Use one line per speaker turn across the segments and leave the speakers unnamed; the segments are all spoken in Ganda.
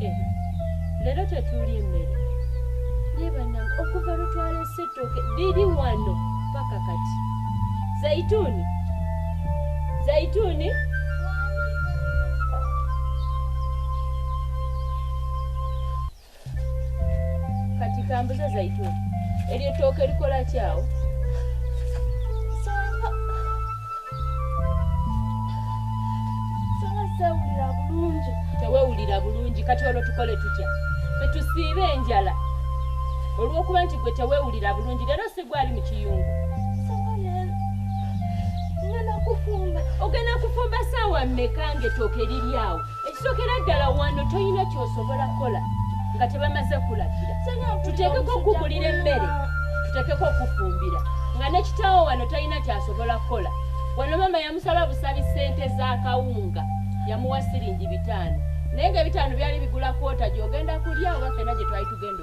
Eh, leero tetuuli emmere naye banange okuva lwetwalese ettooke liri wano paka kati zaituuni zaituuni kati kambuze zaituni eryo ettooka erikola kyawo tewewulira bulungi kati olwo tukole tutya fetusiibe enjala olwokuba nti gwe tewewulira bulungi leero sigwali mu kiyungu ogenda kufumba saawa mmeka nga ettooka eriryawo ekisokera ddala wano tolina kyosobola kukola nga tebamaze kulagira tuteekeko okugulira emmere tuteekeko okufumbira nga nekitaawo wano talina kyasobola kukola wano maama yamusaba busabi ssente z'akawunga yamuwa siringi bitaano naye nga ebitaano byali bigula kwota gyogenda kulya oba fena gye twali tugenda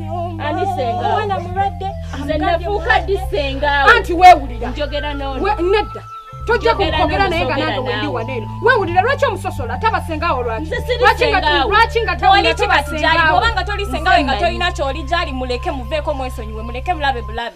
ani senga omwana
mulwadde nze nafuuka ddi sengaawo anti weewulira
njogera n'ono
nedda
tojja kukwogera naye nga nange wendi wano eno weewulira lwaki omusosola tabasengaawo lwakilwaki nga tawulira
obanga toli sengawe nga tolina kyoli gyali muleke muveeko mwesonyiwe muleke bulabe bulabe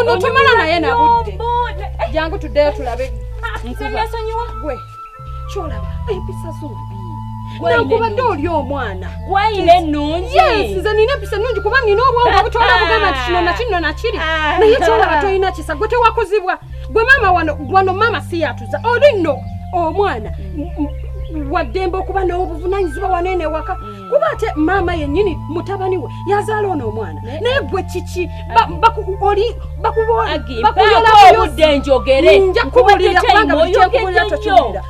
onotumala naye
nabudde jangu tuddeyo tulabe nkubaesonyiwa
gwe
kyolaba empisa zombi nankubadde oli omwana gwayina enungi
yes nze nina empisa
nungi kuba nina obwongo ah, butola bugamba nti kino ah. nakino nakiri ah. naye kyolaba tolina kisa gwe tewakuzibwa gwe maama wano wano maama siyatuza oli nno omwana mm. waddembe okuba n'obuvunanyizibwa wanene waka mm. kuba ate maama yennyini mutabani we yazaala ono omwana naye gwe kiki oli
bakuyoobudde njogere nja kubulira
kubanga buli kyenkubulira tokiwulira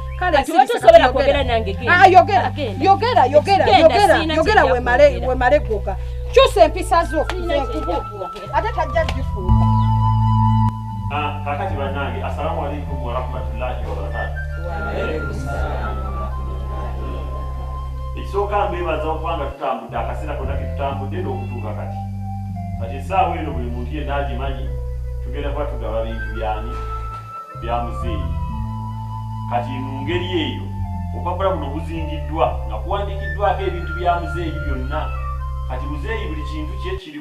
yogera
yogera wemale gwoka kyusa empisa zo ate tajja gifuuka ah,
kakati bannange assalamu alaikum warahmatullahi wabarakatu ekisooka mbeebaza okuba nga tutambudde akaseera konna ketutambudde n'okutuuka kati kati esaawa eno buli muntu yenna agimanyi tugenda kuba tugaba bintu byani bya muzeeyi kati mu ngeri eyo obupapula buno buzingiddwa nga kuwandiikiddwako ebintu bya muzeeyi byonna kati muzeeyi buli kintu kye kiri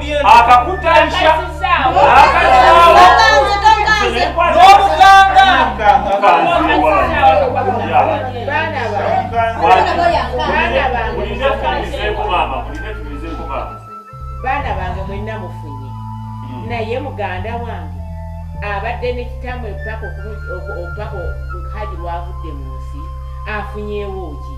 akakutaisha
baana bange mwenna mufunye hmm. naye muganda wange abadde nekitamwe paka haji lwavudde mu nsi afunyewo ki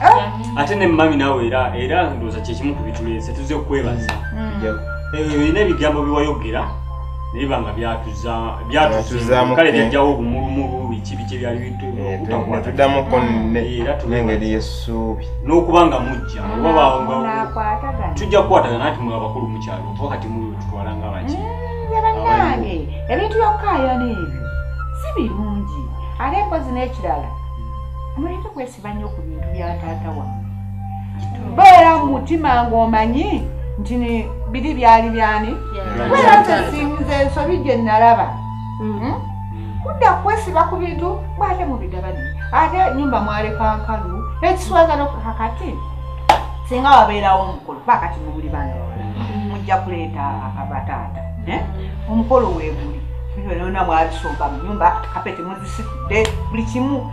Eh? ate ne mami nawe era era ndooza kyekimu ku bituleese tuze kukwebaza mm. eh, olina ebigambo biwayogera neba nga byatuzamukale byajjawo obumulumulu biki biki ebyalibituddamu
eh, konengeri eh, yesuubi n'okuba nga mujja
mm, tujja kukwatagana nti mwe abakulu mukyalo oba kati mututwala nga baki abanange
mm, ebintu byokukayana ebyo si birungi ate mpozi n'ekirala mm. siba nnyo ku bintu bya taata wange beera mu mutima ng'omanyi nti biri byali byani beera ntesinze ensobi gye nalaba hmm. Hmm? kudda kwesiba ku bintu bwate mubigabani ate nyumba mwalekankalu ekiswaza nokakati singa wabeerawo omukulu bakati mubuli bana hmm. mujja kuleeta abataata eh? omukolo weguli byona mwabisomba mu nyumba kapeti muzisitudde buli kimu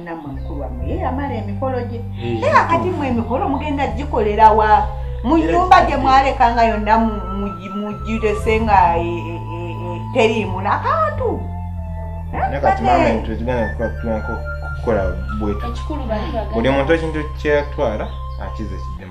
namwe mukulu wamwe ye yamala emikolo gye naye akati mwe emikolo mugenda gikolera wa mu nyumba gye mwaleka nga yonna mugirese nga e, e, e, teriimu
nakantu buli muntu ekintu kyeyatwala akize kidemu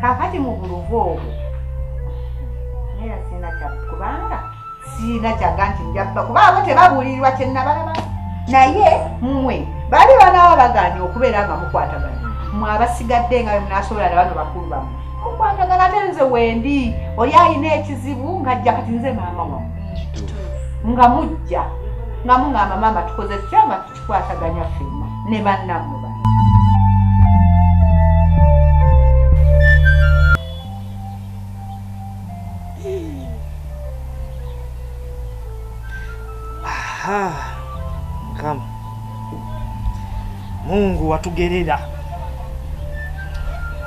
kakati mu buluvu obwo naye sirina kya kubanga sirina kyaga nti njabba kuba abo tebabuulirirwa kyenabalaba naye mmwe baali banaaba bagaanye okubeera nga mukwatagana mwe abasigadde nga bemunasobola na bano bakulu bamu mukwatagana ate nze wendi oli alina ekizibu ngajja kati nze maama wamu nga mujja nga mungamba maama tukoze tutya nga kikwataganya
fema ne bannamwe ba Mukama Mungu watugerera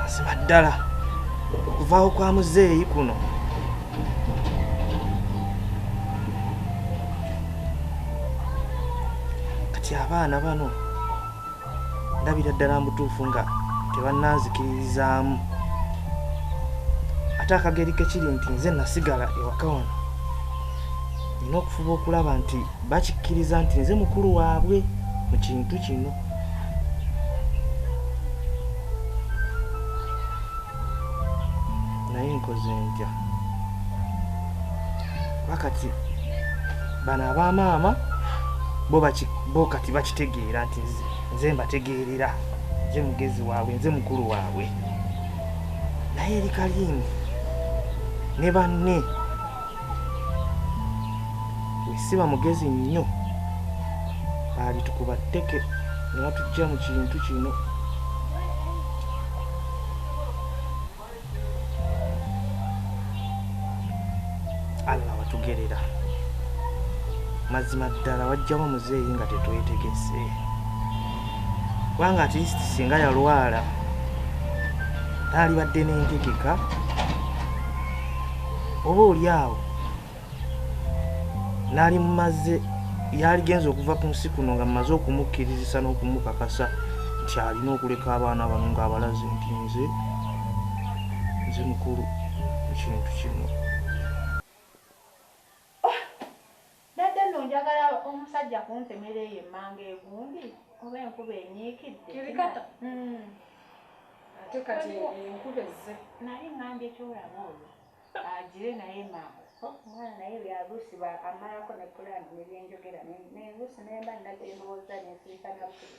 mazima ddala okuvaawo kwa muzeeyi kuno kati abaana bano ndabira ddala mbutuufu nga tebannanzikiririzaamu ate akageri kekiri nti nze nasigala ewaka wano nina okufuba okulaba nti bakikkiriza nti nze mukulu waabwe mu kintu kino naye nkoze ntya bakati bano abamaama bo kati bakitegeera nti nze mbategeerera nze mugezi waabwe nze mukulu waabwe naye eri kaliini ne banne wesiba mugezi nnyo alitukuba tteke nebatujja mu kintu kino allah watugerera mazima ddala wajjamu muzeeyi nga tetwetegese kubanga atist singa yalwala taalibadde n'entegeka oba oli awo nali mumaze yaligenza okuva ku nsi kuno nga mumaze okumukkirizisa n'okumukakasa nti alina okuleka abaana bano ng'abalaze nti nze nze mukulu ekintu kino
Mbadde nno njagala omusajja kuntemera eyo emmanga egundi oba enkuba enyiikidde. Kirikata? Mm.
Ate kati enkuba ezze. Naye ngambye
kyolaba oyo agire naye maama oh, omwana naye byabusi amalako ne pulani nebyenjogera nebusi nemba nagye ndowooza nensirika nabusi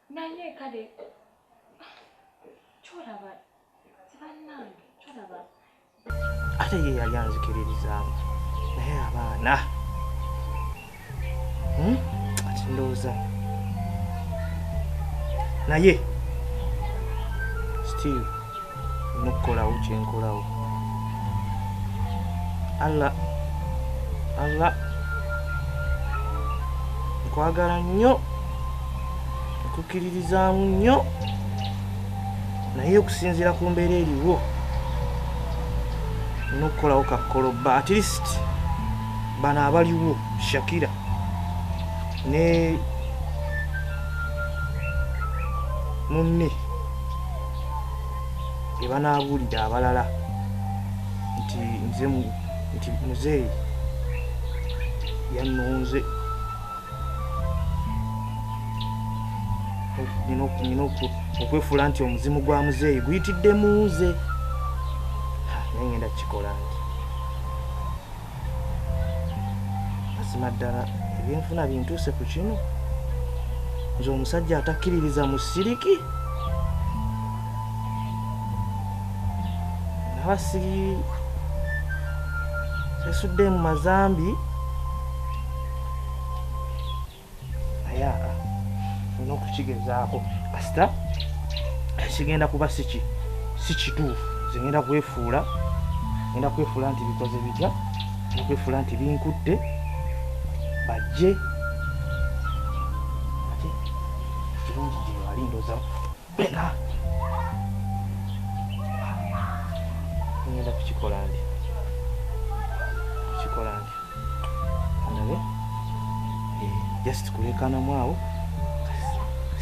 Naye kale kyolaba
banange kyolaba ate ye yali anzikiririzaamu naye abaana hmm? ati ndowooza naye still nokukolawo kyenkolawo allah allah nkwagala nnyo nkukiririzaamu nnyo naye okusinziira ku mbeera eriwo nokukolawo kakolobba at least bano abaliwo shakira ne munne ge banaabuulira abalala nti nze nti muzeeyi yannonze nina okwefuula nti omuzimu gwa muzeeyi guyitidde mu nze nengenda kukikola nti mazima ddala ebyenfuna bintuuse ku kino nze omusajja atakkiririza mu siriki naba siri esudde mu mazambi ayaaka olina okukigezaako kasita kigenda kuba siki sikituufu zigenda kwefuula genda kwefuula nti bikoze bitya okwefuula nti binkutte bajje ate kirungi gyebalindoza Bella. Ngenda kukikola ndi. Kukikola ndi. Ndabe. Eh, just kulekana mwawo.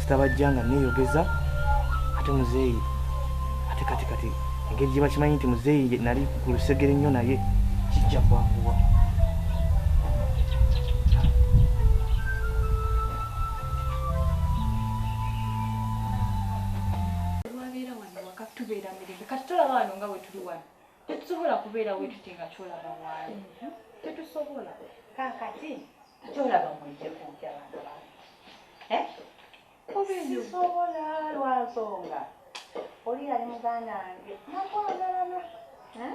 Sitabajjanga neyogeza ate muzeeyi ate kati kati engeri gye bakimanyi nti muzeeyi nali ku lusegere nnyo naye kijja kwanguwa.
tubeera mirembe kati tolaba wano nga wetuli wano tetusobola kubeera wetuti nga kyolaba waali tetusobola kakati
kyolaba mwejekunja abantu kubisobola eh? lwansonga oli yali muganda wange nakwagalana eh?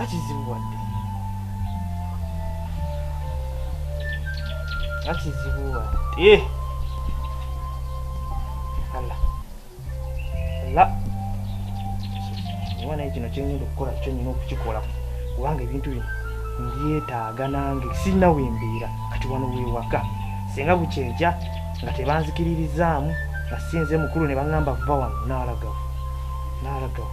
akizibuwadde akizibuwadde ala ala oba naye kino kyengenda okukola kyo nyina okukikola kubanga ebintu bino mbyetaaga nange sirina wembeera kati wano wewaka singa bukyeja nga tebanzikiririzaamu nga sinze mukulu ne baŋamba va wano nalagawo nalagawo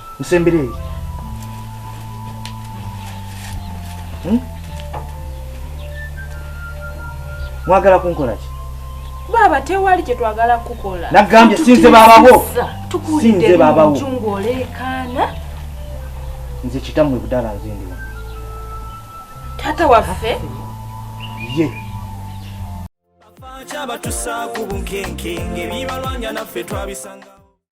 nsembere eri hmm? mwagala kunkola ki baaba
tewali kye twagala kukola nagambye sinze babawo
sinze babawo ng'oleekaana nze kitammwe budala nze ndiwa
taata waffe ye
abatusaako bunkenke ng'ebibalwanya naffe twabisanga